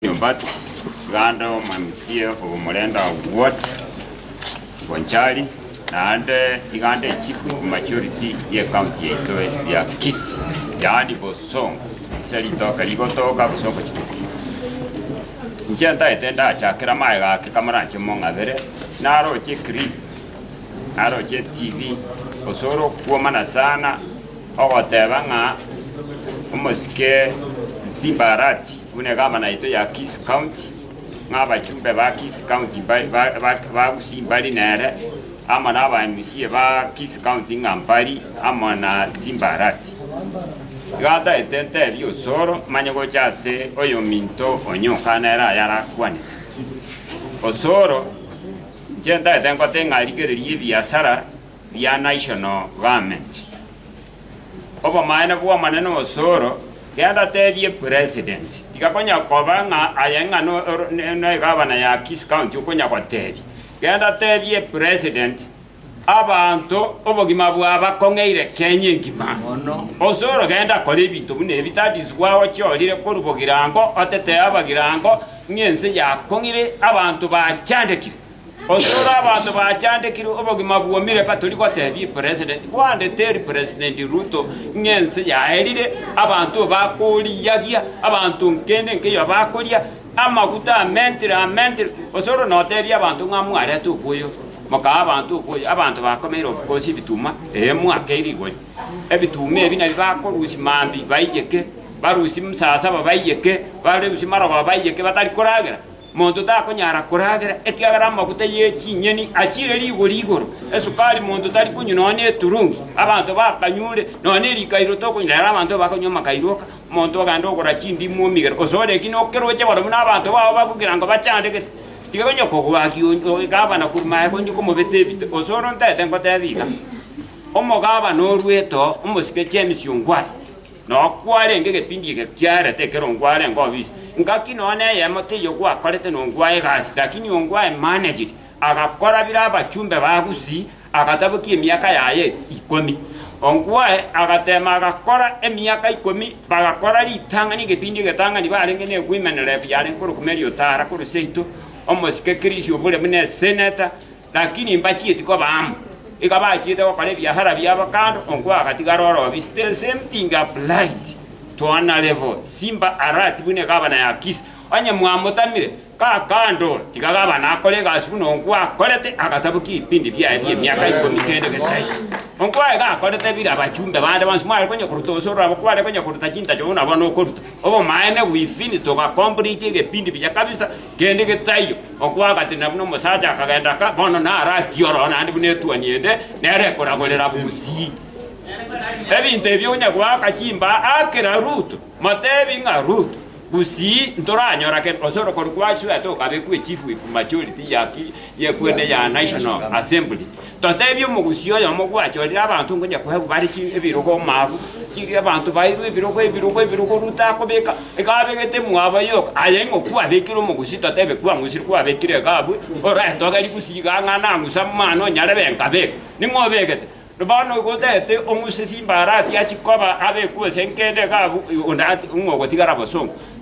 But ganda omansie obomorenda what bonchari naende iganda echief of majority ye county yaito ya Kisii yaani Bosongo ase ritoka rigotoka Bosongo chituko inche ntaete ndachakera amaega ake kamoranche mong'abere naroche clip naroche TV gose ore okuomana sana ogoteba ng'a omosike Simbarati Buna egavana yaito ya Kisi County, ng'a abachumbe ba Kisi County mbari ba Gusii mbari nere, amo na aba mca ba Kisi County ng'a mbari amo na Simba Arati. Iga ataete ntebi Osoro manye gocha ase oyominto onye okana ere aya arakwanete. Osoro, inche ntaete ngote ng'a rigereria ebiasara bia National Government. Obomaene bw'Omonene osoro, genda tebie president. Tiga konya koba ng'a aye ng'a negavana ya Kisii County okonya gotebia. Genda tebie president abanto obogima bwabakong'eire Kenya engima. Osoro genda kora ebinto buna ebi that is why ochiorire korwa bogirango otetee abagirango ng'a ense yakong'ire abanto bachandekire. Onyore abanto bachandekire obogima bwomire batori gotebia president bande teri president Ruto ng'a ense yaerire abanto bakoriyagia abanto nkende nkeyo bakoria amaguta amentire amentire gose oro notebia abanto ng'a mwarete oboyo mokaha abanto oboyo abanto bakomeire obokosi ebituma ee mwakei rigori ebituma ebi nabio bakorusi mambi baiyeke barusi msasaba baiyeke barusi marogoba baiyeke batari koragera Monto takonyara koragera, ekiagera amaguta ye chinyeni achiire rigori igoro, esukari monto tari konywa nonya neturungi. Abanto bakanyure nonya nerikairo tokonywa, rero abanto bakanywa amakairo oka, monto ogenda ogora chindimu omigera, gose ore ki nokeroche barabwo na abanto bao bagokira ngo bachande gete, tiga onye kogwakia onye omogabana korwa maega onye komobete ebite, gose ore ontete ngoteba iga, omogabana orwete oo, omosike James Ongwae. Na okwarenge egebindi eke kiarete ekero nkwarenge obisi, ngaki nonya neyemo teiyo gwakorete nonkwa egasi, lakini onkwa I managed agakora bire abachumbe ba Gusii agatabokia emiaka yaye ikomi. Onkwa I agatema agakora emiaka ikomi bagakora ritang'ani egebindi egetang'ani barenge ne women rep yarenge korokwa Mary Otara korwa seito omosike Chris obore buna esenator Lakini mbachieti koba amo, iga bachiete gokora ebiahara biabo kando onkwa agatigara ore obi still same thing applied to ana level simba alert buna egabana ya kisi onye mwamotamire ka kando tiga gabana akore egasi buna onkwa akorete agatabokia ebipindi biaye bia emiaka ikomi kende getai onkwa iga akorete bire abachumbe bande bonsi mware konya koruta gose orabo kware konya koruta chintacho buna bono okoruta obomaene bwifini toga complete egepindi buya kabisa Kende getaiyo, okwagati na buna omosacha akagenda aka, bono naro akia ororo naende buna etuoni ende nero ekoragorera bosii. Ebinto ebio onye goaka chimbaa akera Ruto, motebi ng'a Ruto, bosii ntoranyora kende, gose orokori kwachwete okabekwa echief whip majority ya ki, ye kwene ya National Assembly. Totebie omogusii oyomo gwachorire abanto ngonya koegwa bare chi ebirogo omoabu, chiri abanto bairwe ebirogo ebirogo ebirogo ruta akobeka, iga abegete mwabo yoka. Aye ing'o kwabekire omogusii totebe kwang'usire kwabekire iga abwe, orente ogeri gusii igaa ng'a nang'use amang'ana onyarebe nkabeka. Ning'o obegete? Bono igo otebete ong'use chimbarati achikoba abekwe gose nkende iga abwe, onde onye ogotigara bosongo.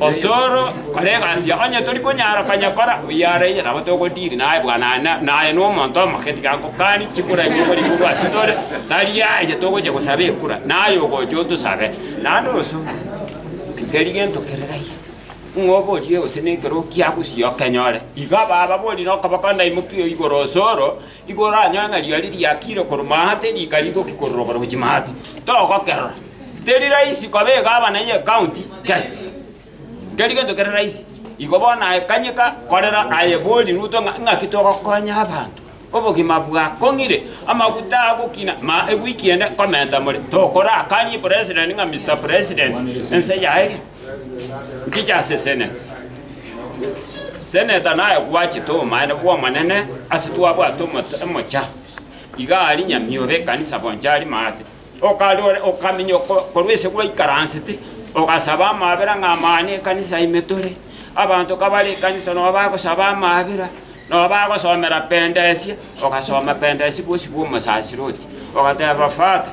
Osoro, kora egasi yao onye tori konyara konya kora oyarainyete, nabo togotiri naye bwana ane, naye nomonto omoke tiga akokani chikura ebi okori igoro ase tore, tari yaye togochia gosaba ekura, naye ogocha otosabe. Naende osoro, teri gento kere rahisi, ng'a oborie gose nekero okiagosia okenyore. Iga ababori nokoboko ndaimokie igoro osoro. Nigo oranyore ng'a riari riakire korwa maate rika rigoki korora oborochi maate, togokerora. Teri rahisi kobeka abana ye county kei. Keri gento kere rahisi. Igo bono aye kanyeka korera aye bori Ruto ng'a ng'aki togokonya abanto. Obogima bwakong'ire, amaguta agokina, ma ewiki ende nkomenta more. Tokorakanie president ng'a Mister President, ense yaye. Nchichasesene. Seneta naye gwachete omomaene bw'Omonene ase twabwate omoto emocha. Iga ari nyamiobe ekanisa boncha ari maate. Okarore okaminya oko- korwa ase gwaikaransete, ogasaba amabera ng'a amang'ana ekanisa ime tore. Abanto kabare ekanisa nabo bagosaba amabera, nabo bagosomera penda esie, ogasoma penda esie bosi bw'omosasiroti. Ogateba, Father,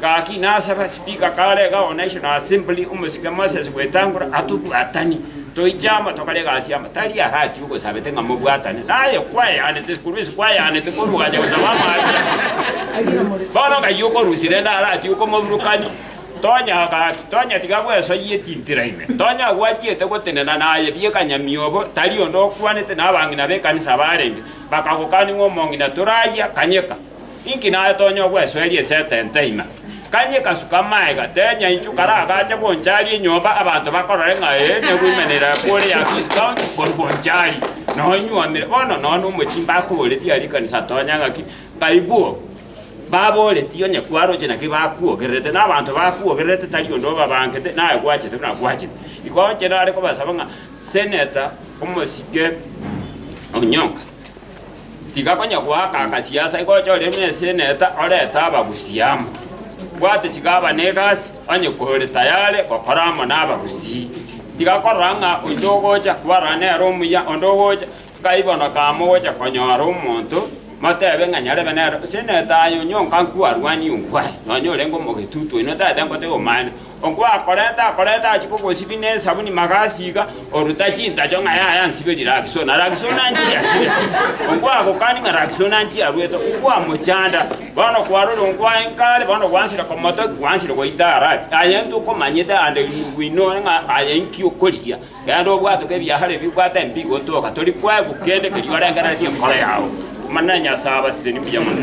Gaki nasaba sipika kare gaone Aisho na Asembli omosike Moses gwetangora atobwatani toiche amo tokore egasi amo, tari arati ogosabete ng'a mobwatane naye kwayanete korwa ase kwayanete korwa ogacha gosaba amabera. Bono ng'ai okorusia rende arati okomoburukani? Tonya gaki, tonya tiga bwesoyie etintira ime, tonya gwachiete gotenena naye bieka nyamiobo, tari onde okwanete, na abang'ina b'ekanisa abarenge bakagokani ng'a omong'ina torayia kanyeka. Inki natonya ogwesoeria esetenta ime? Kanye ekasuka amaega, tenya inchu kare agache g'oncharia enyomba abanto bakorore ng'a ee nigo ime nerakwa ore Yabisi County korwa g'oncharia. Noo inywomire bono noo nomochie mbakoboretie aria ekanisa atonya ng'aki, Ng'aibwo baboretie onye kwaroche naki bakwogererete, na abanto bakwogererete tari onde obabangete naye gwachete buna gwachete. Igo inche nare kobasaba ng'a Senator omosike Onyonga. Tiga konya goaka agasiasa igocha ore neseneta orete abagusii amo. Bwate tiga aba negasi onye kore tayare gokora amo nabagusii. Tiga korora ng'a onde ogocha kwarana nere omuya onde ogocha kaibono kamo ogocha konyora omonto motebe ng'a nyarebe nere seneta aye onyonka nkwarwanie onkwaye nonya orenge omogetutu oino tagete ngotebi omanyete. Okwo akorete akorete achie kogosibia nesabuni magasi iga, oruta chintacho ng'a yaya ansiberi Raksona, Raksona anchie asire. Okwo agokani ng'a Raksona anchie arwete, okwo amochanda. Bono kwarora okwo aye nkare, bono gwansire komotokia, gwansire goita arati. Aye ntokomanyete ande inwe inwe inoro ng'a aye inki okorigia. Genda obwatoke ebiahare ebi, obwate empi igotoka, tori kwaigwa kende keria orengereretie enkoro yao. Omonene Nyasae abasesenie buya mono.